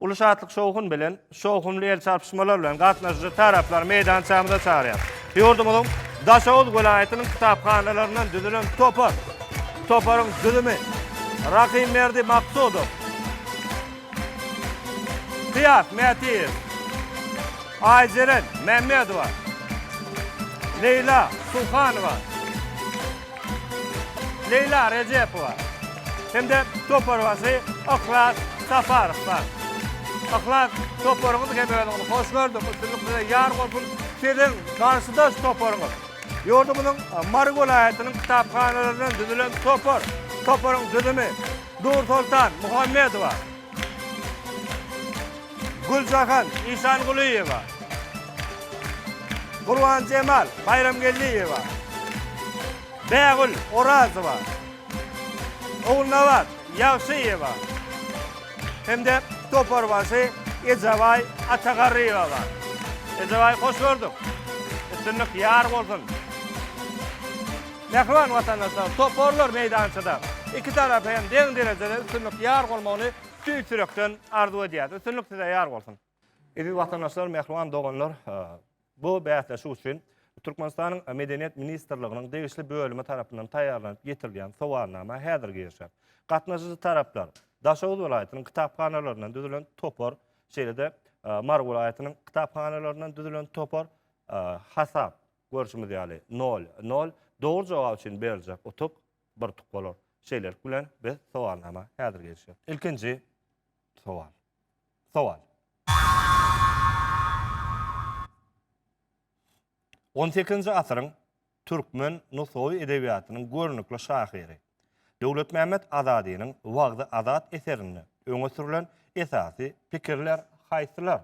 Uly şatlyk-şowhun bilen, şowhunly el çarpyşmalar bilen gatnaşyjy taraplary meýdançamyza çagyrýas. Ýurdumyzyň Daşoguz welaýatynyň kitaphanalaryndan düzülen topar. Toparyň düzümi, Rahymberdi Maksudow, Kyýas Mätiýew, Aýjeren Mämmedowa, Leýla Suhanowa, Leýla Rejepowa hem-de toparbaşy Yhlas Saparow bar. Yhlas, toparyňyz hem özüňiz. Hoş gördük, üstünlik size ýar bolsun! Siziň garşydaş toparyňyz, ýurdumyzyň Mary welaýatynyň kitaphanalaryndan düzülen topar. Toparyň düzümi, Nursoltan Muhammedowa, Güljahan Işangulyýewa, Gurbanjemal Baýramgeldiýewa, Bägül Orazowa, Ogulnabat Ýagşyýewa hem-de toparbaşy Ejebaý Atagarryýewa bar. Ejebaý, hoş gördük! Üstünlik ýar bolsun! Mähriban watandaşlar, toparlar meýdançada iki tarapa hem deň derejede üstünlik ýar bolmagyny tüýs ýürekden arzuw edýäris. Üstünlik size ýar bolsun! Eziz watandaşlar, mähriban doganlar, bu bäsleşik üçin Türkmenistanyň Medeniýet ministrliginiň degişli bölümi tarapyndan taýýarlanyp getirilýän sowalnama häzir girişer. Gatnaşyjy taraplar, Daşoguz welaýatynyň kitaphanalaryndan düzülen topar, şeýle-de Mary welaýatynyň kitaphanalaryndan düzülen topar, hasap, Görşümiz ýaly, nol, nol. Dogry jogap üçin beriljek utuk bir utuk bolar. Şeýlelik bilen, biz sowalnama häzir girişýäs. Ilkinji sowal. Sowal. On sekizinji asyryň türkmen nusgawy edebiýatynyň görnükli şahyry Döwletmämmet Azadynyň Wagzy Azat eserinde öňe sürlen esasy pikirler haýsylar?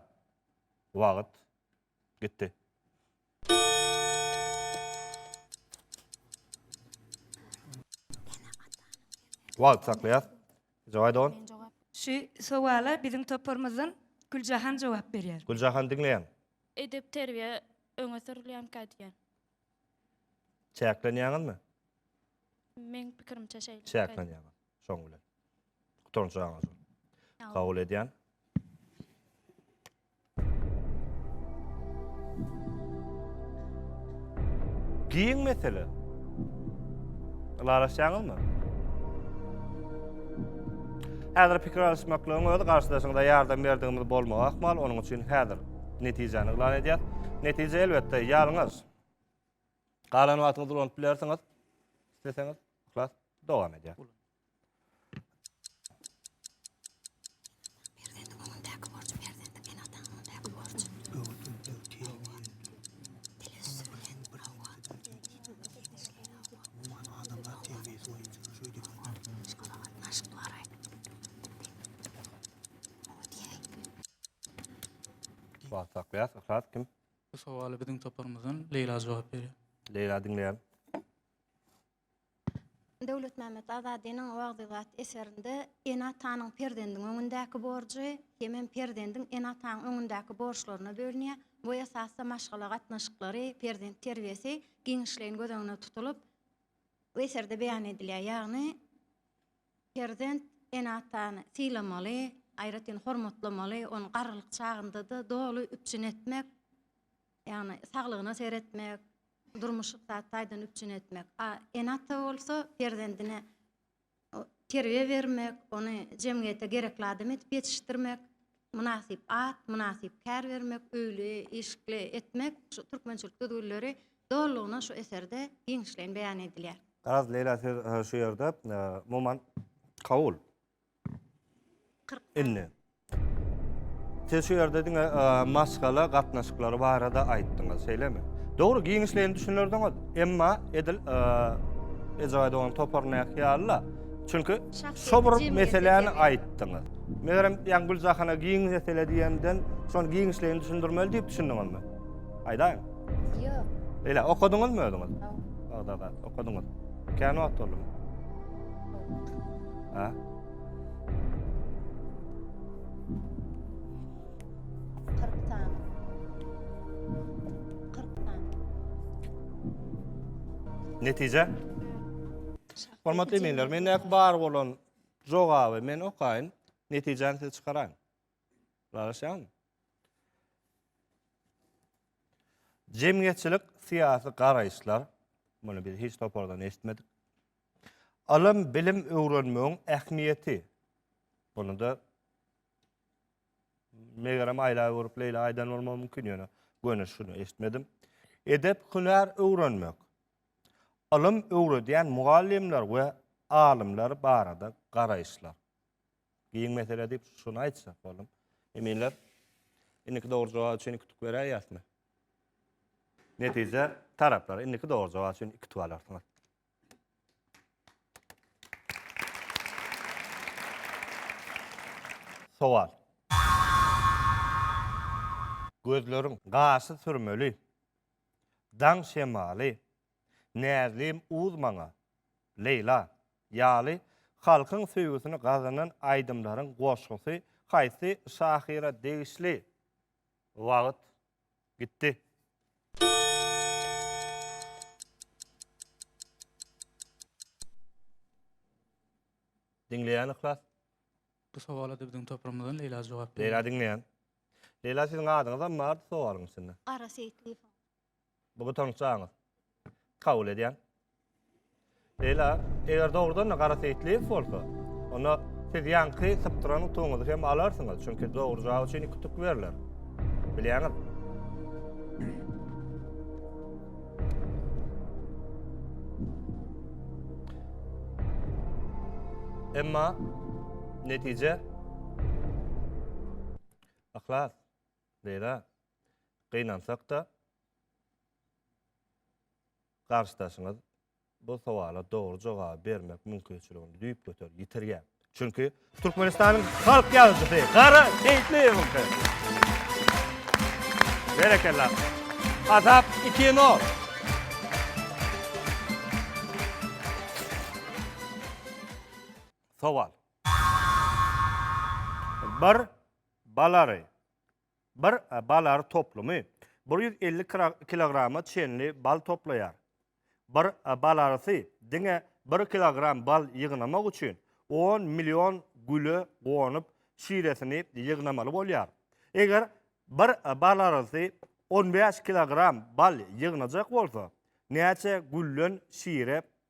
Wagt. Gitdi. Wagt saklaýas. Jogaý dogan. Şu sowala biziň toparymyzdan Güljahan jogap berýär. Güljahan diňleýän. Edep terbiýe öňe sürülýänkä diýýän. Çäklenýäňizmi? Meň pikirimçe şeýle. Çäklenýäňiz. Şoň bilen. Gutaryň jogap. Kabul edýän. Giň mesele. Ylalaşýaňyzmy? Häzir pikir alyşmaklygyň özi garşydaşyňyza ýardam berdigimiz bolmagy ahmal, onuň üçin häzir netijäni yglan edýär. Netije elbetde ýalňyz. Galan wagtyňyzy ulanyp bilersiňiz. Isleseňiz, yhlas dowam edýär. Wagt saklaýas, yhlas kim? Bu sowaly biziň toparymyzdan Leýla jogap berýär. Leýla diňleýän. Döwletmämmet Azadynyň Wagzybat eserinde ene-atanyň perzendiň öňündäki borjy hemem perzendiň ene-atanyň öňündäki borçlaryna bölünýär. Bu esasda maşgala gatnaşyklary, perzent terbiýesi giňişleýin göz öňünde tutulyp, bu eserde beýan edilýär. Ýagny, perzent ene-atany sylamaly, aýratyn hormatlamaly, ony garrylyk çagynda-da doly üpjün etmek, ýagny saglygyna seretmek, durmuş-ykdysady taýdan üpjün etmek, a ene-ata bolsa perzendine terbiýe bermek, ony jemgyýete gerekli adam edip ýetişdirmek, mynasyp at, mynasyp kär bermek, öýli, işikli etmek, şu türkmençilik düzgünleri dolulygyna şu eserde giňişleýin beýan edilýär. Garaz, Leýla, siz şu ýerde, umuman, kabul Indi. Siz şu ýerde diňe maşgala gatnaşyklary barada aýtdyňyz, şeýlemi? Dogry, giňişleýin düşünerdiňiz, emma edil Ejaý dogan topar näki ýaly-la. Çünki şo bir meseläni aýtdyňyz. Megerem, ýaňy Güljahana giň mesele diýenden, şony giňişleýin düşündirmeli diýip düşündiňizmi? Aýdaýyň. Ýok. Beýle, okadyňyzmy özüňiz? Ýok. Bagdada okadyňyz. Kän wagt boldumy? Ha? Kırktan. Kırktan. Netije? Hormatly eminler, men näki bar bolan jogaby men okaýyn, netijäni siz çykaraň. Ralaşýan. Jemgyýetçilik syýasy garaýyşlar, muny biz hiç topardan eşitmedik. Ylym, bilim öwrenmegiň ähmiýeti. Muny-da megerem Aýla görüp Leýla aýdan bolmagy mümkin ýöne göni şuny eşitmedim. Edep, hünär öwrenmek. Ylym öwredýän mugallymlar we alymlar barada garaýyşlar. Giň mesele diýip şuny aýtsak boldum. Eminler, indiki dogry jogap üçin iki tuk beräýýäsmi? Netije taraplar indiki dogry jogap üçin iki tuk alarsyňyz. Sowal. Gözleriň gaşy sürmeli, Daň şemaly, Näzlim uz maňa, Leýla, ýaly halkyň söýgüsini gazanan aýdymlaryň goşgusy haýsy şahyra degişli? Wagt. Gitti. Diňleýän yhlas. Bu sowala da biziň toprumyzdan Leýla jogap berdi. Leýla diňleýän. Leýla siziň adyňyzam bardy sowalyň içinde. Gara Seýitliýew. Bu gytançlaňyz kabul edýän. Beýle, eger dogrudan-da gara seýitligiňiz bolsa, onda siz ýaňky sypdyran utugyňyzy hem alarsyňyz, çünki dogry jogap üçin iki utuk berler. Bilýäňiz. Emma netije Aklas, beýle. Gynansak-da, garşydaşyňyz bu sowala dogry jogaby bermek mümkinçiligini düýpgöter ýitirýär. Çünki Türkmenistanyň halk ýazyjysy Gara Seýitliýewiňki. Berekella. Azap 2-0. Sowal. Bir balary Bir bal ary toplumy bir ýüz elli kilograma çenli bal toplaýar. Bir bal arysy diňe bir kilogram bal ýygnamak üçin on million güle gonup, şiresini ýygnamaly bolýar. Eger bir bal arysy on bäş kilogram bal ýygnajak bolsa, näçe gülden şire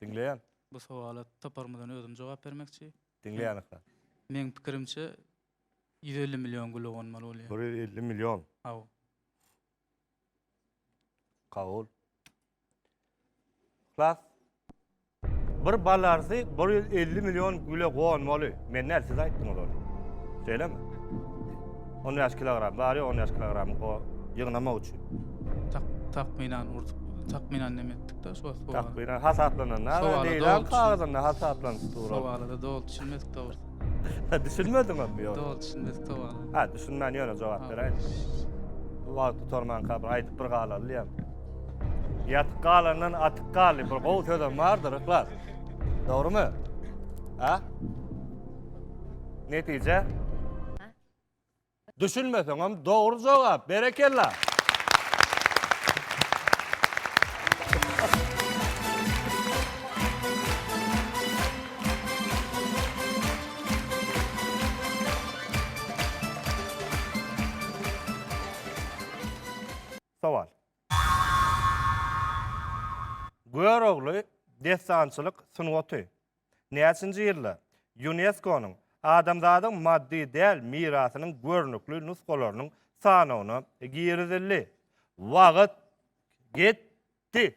Diňleýän. Bu sowala toparymyzdan özüm jogap bermekçi. Diňleýän ykra. Meň pikirimçe ýüz elli million gül owanmaly bolýar. Bir ýüz elli million. Hawa. Kabul. Yhlas. Bir balarsy bir ýüz elli million güle gonmaly. Men däl, siz aýtdyňyz ony. Şeýlemi? On bäş kilogram bar ýa on bäş kilogram go ýygnamak üçin. Tak, takmynan urdup, takmynan neme etdik-de şo sowal. Takmynan hasaplananda leýlan kagyzynda hasaplanyp dur. Sowala-da doly düşünmedik dogrusy. Hä, düşünmediňizmi ýogsa? Doly düşünmedik sowala. Hä, düşünmän ýöne jogap beräýdim. Wagt gutarmanka bir aýdyp bir galalyam. Ýatyp galandan atyp gal diýip bir gowy sözem bardyr Yhlas. Dogrymy? Ha? Netije? Düşünmeseňem dogry jogap. Berekella. Sowal. Görogly dessançylyk sungaty näçinji ýylda Ýuneskonyň Adamzadyň maddy däl mirasynyň görnükli nusgalarynyň sanawyna girizildi? Wagt gitdi!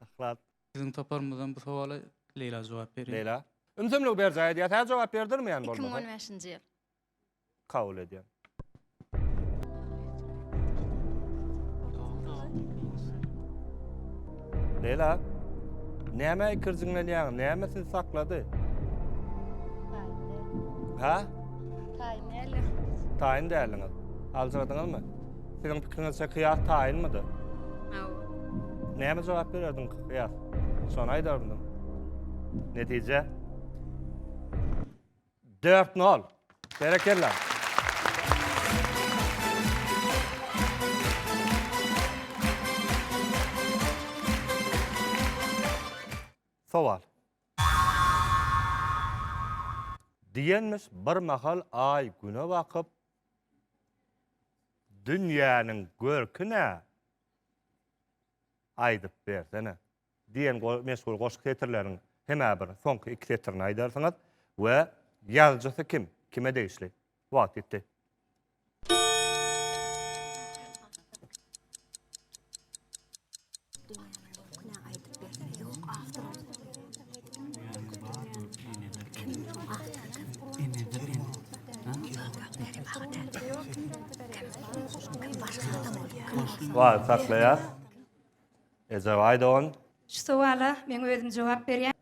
Ahlat. Biziň toparymyzdan bu sowala Leýla jogap berýär. Leýla. Ümsümligi berjaý edýär. Sä jogap berdirmeýän bolmasa. 2015-nji ýyl. Kabul edýän. Leyla, näme ikirjiňlenýäň, näme sizi saklady? Ha? Taýyn däliň. Taýyn däliňiz. Aljyradyňyzmy? Siziň pikiriňizçe kyýas taýynmydy? Hawa. Näme jogap bererdiň kyýas? Şony aýdardyň. Netije? Dört nol. Berekella. Sowal. Diýenmiş bir mahal Aý Güne bakyp, Dünýäniň görki nä? Aýdyp bersene. Diýen meşhur goşgy setirleriniň hem-ä bir soňky iki setirini aýdarsyňyz we ýazyjysy kim, kime degişli? Wagt ýitdi. Wagt saklaýas. Ezewaýdon. Şu sowala men özüm jogap berýän.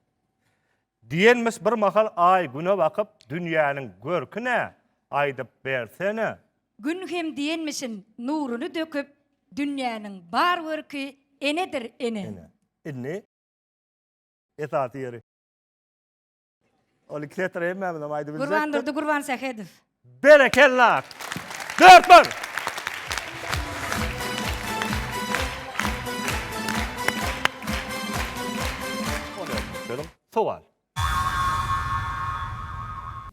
Diýenmiş bir mahal Aý Güne bakyp, Dünýäniň görki nä, aýdyp bersene? Gün hem diýenmişin nuruny döküp, Dünýäniň bar görki enedir, ene. Ene. Indi esasy ýeri. Ol iki setir hemmämizem aýdyp biljek. Gurbandurdy Gurbansähedow. Berekella! Dört bir! Sowal.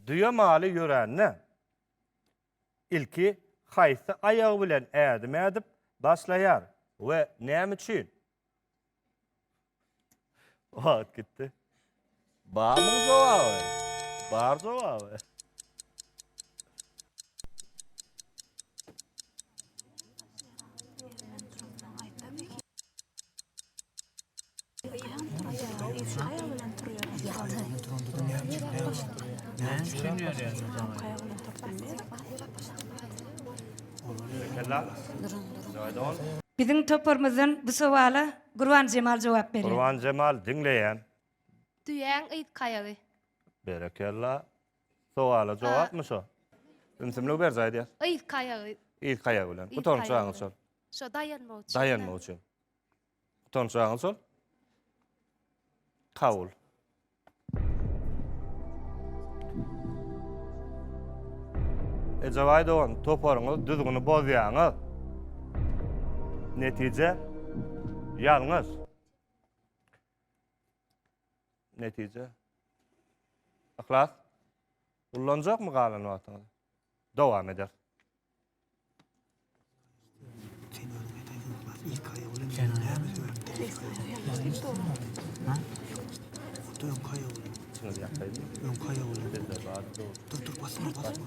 Düýe maly ýörände, Ilki haýsy aýagy bilen ädim ädip başlaýar we näme üçin? Wagt gitdi. Barmyň jogaby? Bar jogaby. Biziň toparymyzdan bu sowala Gurbanjemal jogap berýär. Gurbanjemal diňleýän. Düýäň yz kaýagy. Berekella. Sowala jogapmy şo? Ümsümlik berjä aýdýar. Yzky aýagy. Yzky aýagy bilen. Gutanç aňy şol. Şo daýanmak üçin. Daýanmak üçin. Gutanç aňy şol. Kabul. Ejabaý dogan, toparyňyz düzgüni bozýaňyz. Netije ýalňyş. Netije. Yhlas. Ullanjak mı galan wagtyňyzy? Dowam eder. Şunu bir yapayım. Bir de var. Dur dur basma basma.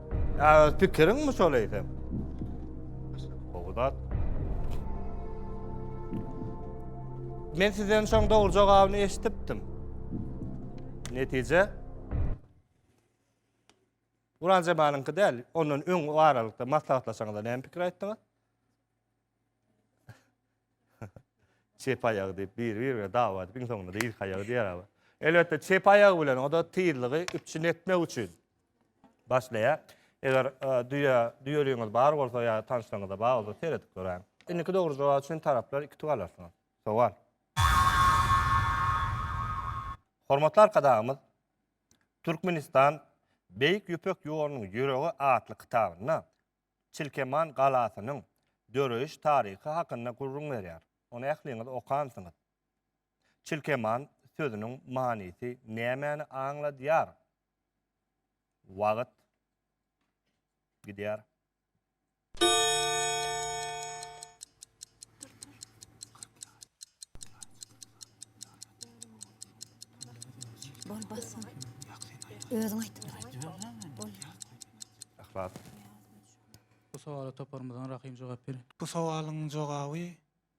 Ýa öz pikiriňmi şol eýsem? Gowy zat. Men sizden şoň dogry jogabyny eşitipdim. Netije? Uran Jemanyňky däl, ondan öň o aralykda maslahatlaşaňyzda näme pikir aýtdyňyz? çep aýagy diýip bir-birine dawa edip, iň soňunda da irki aýagy diýer abi. Elbetde çep aýagy bilen o da tizligi üpjün etmek üçin başlaýar. Eger e, düýe düýeligiňiz bar bolsa ýa tanşlaryňyzda bar bolsa seredip göräň. Indiki dogry jogap üçin taraplar iki tug alarsyňyz. Sowal. Hormatly arkadagymyz Türkmenistan Beýik Ýüpek ýolunyň ýüregi atly kitabynda Çilkeman galasynyň döreýiş taryhy hakynda gürrüň berýär. Ony ähliňiz okansyňyz. Çilkeman sözüniň manysy nämäni aňladýar? Wagt gidýär. Rast. Bu sowala toparymyzdan Rahym jogap berin. Bu sowalyň jogaby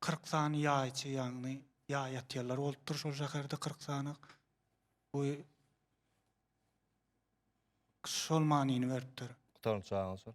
kyrk sany ýaýçy ýagny ýaý atýarlar bolupdyr şol şäherde kyrk sany. Bu şol manyny beripdir. Gutaryň çagyň sor.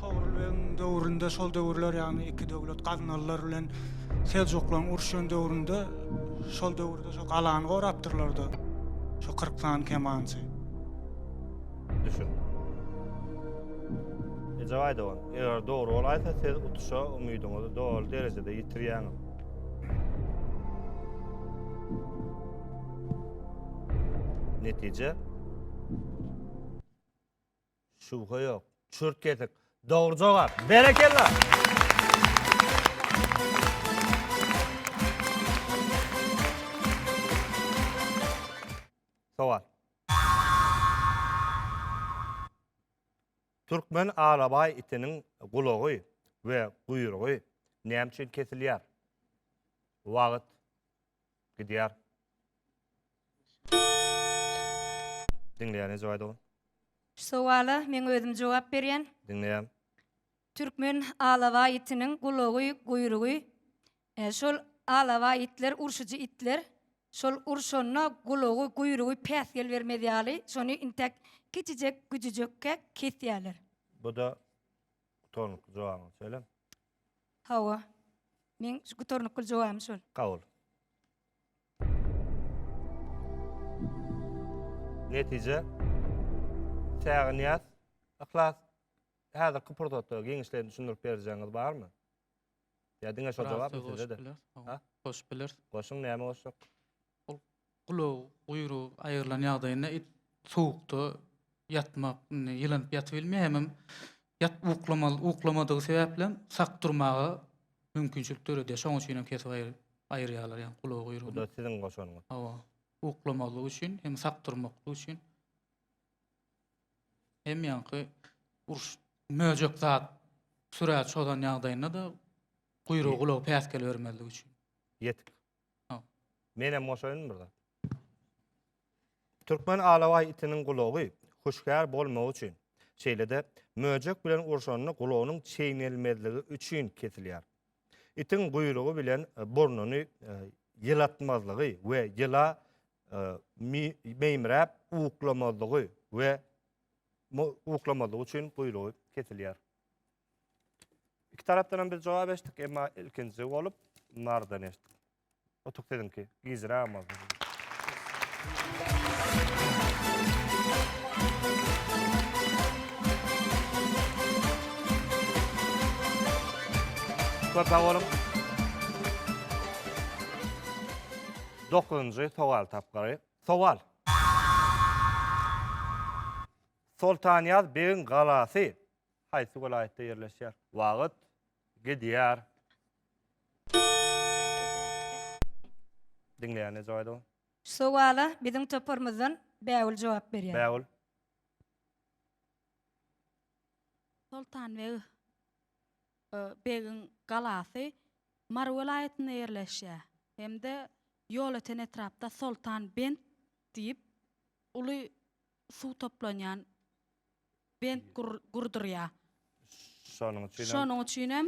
Togrul begiň döwründe şol döwürler ýagny iki döwlet gaznalylar bilen seljuklaryň uruşýan döwründe şol döwürde şo galany gorapdyrlarda şo 40 sany kemançy. Düşün. Ejep aýdawan, eger dogry bolaýsa siz utuşa umydyňyzy doly derejede ýitirýäňiz. Netije Şübhe ýok. Çürt kesik. Dogry jogap. Berekella! Türkmen alabaý itiniň gulagy we guýrugy näme üçin kesilýär? Wagt. Gidýär. Diňleýär ne jogap ol. Şu sowala meň özüm jogap berýän. Diňleýän. Türkmen alawa itiniň gulagy, guýrugy e, şol alawa itler urşujy itler. Şol urşanda gulagy, guýrugy päsgel bermez ýaly, şony intäk kiçijek güjüjekkä kesýärler. Bu da utanykly jogabyňy söyle. Hawa. Meň şu gutarnykly jogabym şol. Kabul. Netije. Çägynýaz, Yhlas, häzirki pursatda giňişleýin düşündirip berjegiňiz barmy? Ýa diňe şo jogapmy sizde-de? Goşup bileris. Goşuň, näme goşjak? Gulagy, guýrugy aýrylan ýagdaýynda it sowukda ýatmak, indi ýylanyp ýatybilmeýär, hemem ýat uklamaly, uklamadygy sebäplem sak durmaga mümkinçilik döredýär. Şonuň üçin hem kesip aýry aýyrýarlar ýa gulagy, Bu guýrugyny. da siziň goşanyňyz. Hawa. Uklamalygy üçin hem sak durmaklygy üçin. Hem ýaňky uruş möjek zat sürä çozan ýagdaýynda-da guýrugy, gulagy päsgel bermezligi üçin. Ýetik. Menem goşaýyn bir zat. Türkmen alawaý itiniň gulagy hüşgär bolmagy üçin, şeýle-de möjek bilen urşanda gulagynyň çeýnelmezligi üçin kesilýär. Itiň guýrugy bilen e, burnuny e, ýylatmazlygy we ýyla e, meýmiräp uklamazlygy we uklamazlygy üçin guýrugy kesilýär. İki tarafdan hem biz cevap eşittik, emma ilkinji bolup nardan eşitdik. Otuk siziňki, gijirä ama. Köp sag boluň. Dokuzunjy sowal tapgyry. Sowal. Soltanýaz begiň galasy haýsy welaýatda ýerleşýär? Wagt gidýär. Diňleýän ne jogap aýdaw? Şu sowala biziň toparymyzdan Bägül jogap berýär. Bägül. Soltanbeg e, begiň galasy Mary welaýatynda ýerleşýär hem-de Ýolöten etrapda Soltanbent diýip uly suw toplanýan bent gurdurýar. Şonuň üçin hem Şonuň üçin hem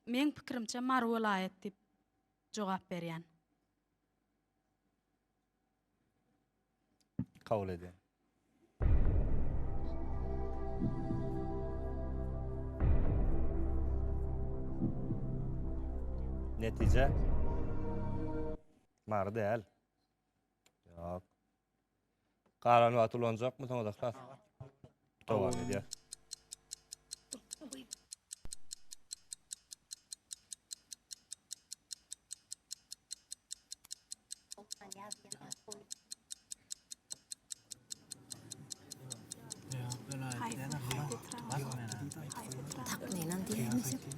meň pikirimçe Mary welaýat diýip jogap berýän. kabul edýän. Netije Mary däl. Ýok. Galan wagty ulanjakmysyňyz ahlas? Dowam edýär. Takmynan diýemizmi?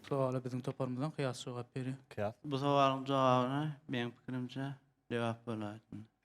Sowala biziň toparymyzdan Kyýas jogap berýär. Kyýas. Bu sowalyň jogabyna meň pikirimçe lebap bolaýsyn.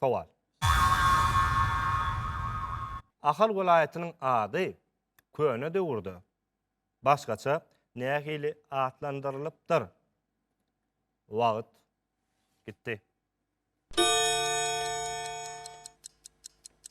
Sowal. Ahal welaýatynyň ady köne döwürde başgaça nähili atlandyrylypdyr? Wagt gitdi.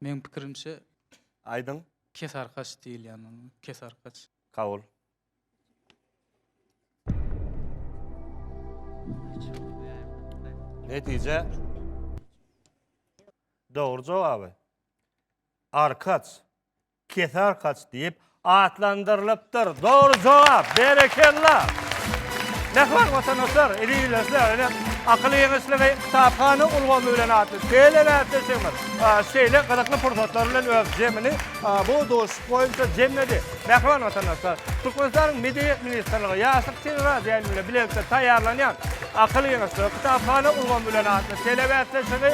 Meň pikirimçe Aýdyň. Kesarkaç diýilýän onuň. Kesarkaç. Kabul. Netije. Dogry jogaby. Arkaç. Kesarkaç diýip Atlandyrylypdyr. Dogry jogap. Berekella. Mähriban watandaşlar, eziz Akyl ýeňişligi kitaphana ulgamy bilen atly tele bäsleşigimiz şeýle gyzykly pursatlar bilen öz jemini bu duşuşyk boýunça jemledi. Mähriban watandaşlar, Türkmenistanyň Medeniýet ministrligi Ýaşlyk teleradioýaýlym bilen bilelikde taýýarlanýan Akyl ýeňişligi kitaphana ulgamy bilen atly tele bäsleşigi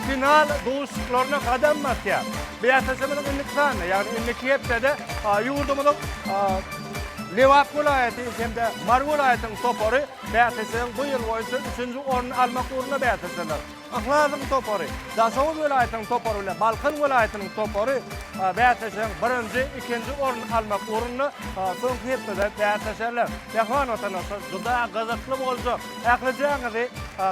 final duşuşyklaryna gadam basýar. Bäsleşigimiziň indiki sanyna, ýagny indiki hepdede ýurdumyzyň Lebap welaýaty hem-de Mary welaýatynyň topary bäsleşigiň bu ýyl boýunça üçünji orny almak ugrunda bäsleşerler. Yhlasyň topary, Daşoguz welaýatynyň topary bilen Balkan welaýatynyň topary bäsleşigiň birinji, ikinji orny almak ugrunda soňky hepdede bäsleşerler. Mähriban watandaşlar, juda gyzykly boljak. Ählijaňyzy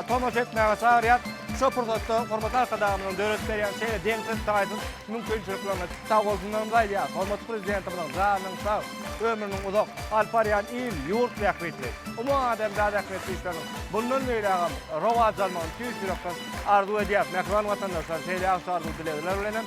tomaşa etmäge çagyrýas. Şu pursatda hormatly Arkadagymyzyň döredip berýän şeýle deňsiz-taýsyz mümkinçiliklerine sag bolsunlarymyzy aýdýarys. Hormatly Prezidentimiziň janynyň sag, ömrüniň uzak, alyp barýan il, ýurt bähbitli, umumadamzat ähmiýetli işleriniň mundan beýlägem rowaç almagyny tüýs ýürekden arzuw edýäris. Mähriban watandaşlar, şeýle ýagşy arzuw-dilegler bilen hem.